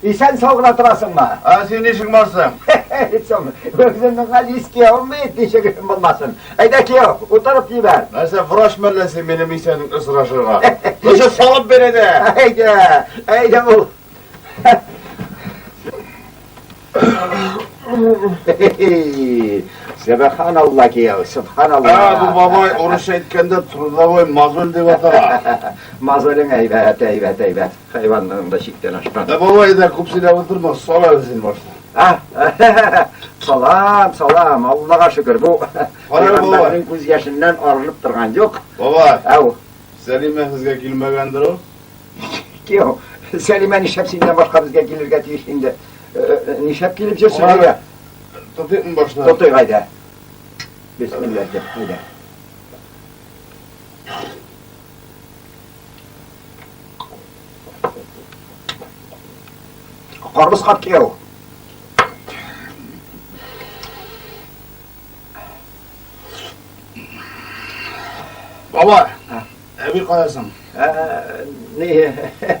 Исән сау гына торасыңмы? Ә син ничек барсың? Соң, үземнең газиз кияүем бит, ничек өчен булмасын. Әйдә, кияү, утырып җибәр. Нәрсә, врач мәлләсе минем исәнлек сорашырга? Нәрсә салып бир әйдә. Әйдә, әйдә бул. Сәбәханалла кияү, субханалла. Ә, бу бабай урысча әйткәндә трудовой мозоль дип атала. Мозолең әйбәт, әйбәт, әйбәт. Хайванның да чиктән ашкан. Ә бабай да күп сөйләп утырма, сала үзен башта. А, салам, салам, Аллага шөкер, бу Пәйгамбәрнең күз яшеннән арынып торган юк. Бабай. Ау. Сәлимә сезгә килмәгәндер ул? Кем? Сәлимә нишләп синнән башка безгә килергә тиеш инде? Нишләп килеп җөрсен әйдә? Тотыйм башта. Тотый әйдә. Бисмиллаһ, әйдә. Карбыз карт кияу. Баба, әби каласың. Ә, не.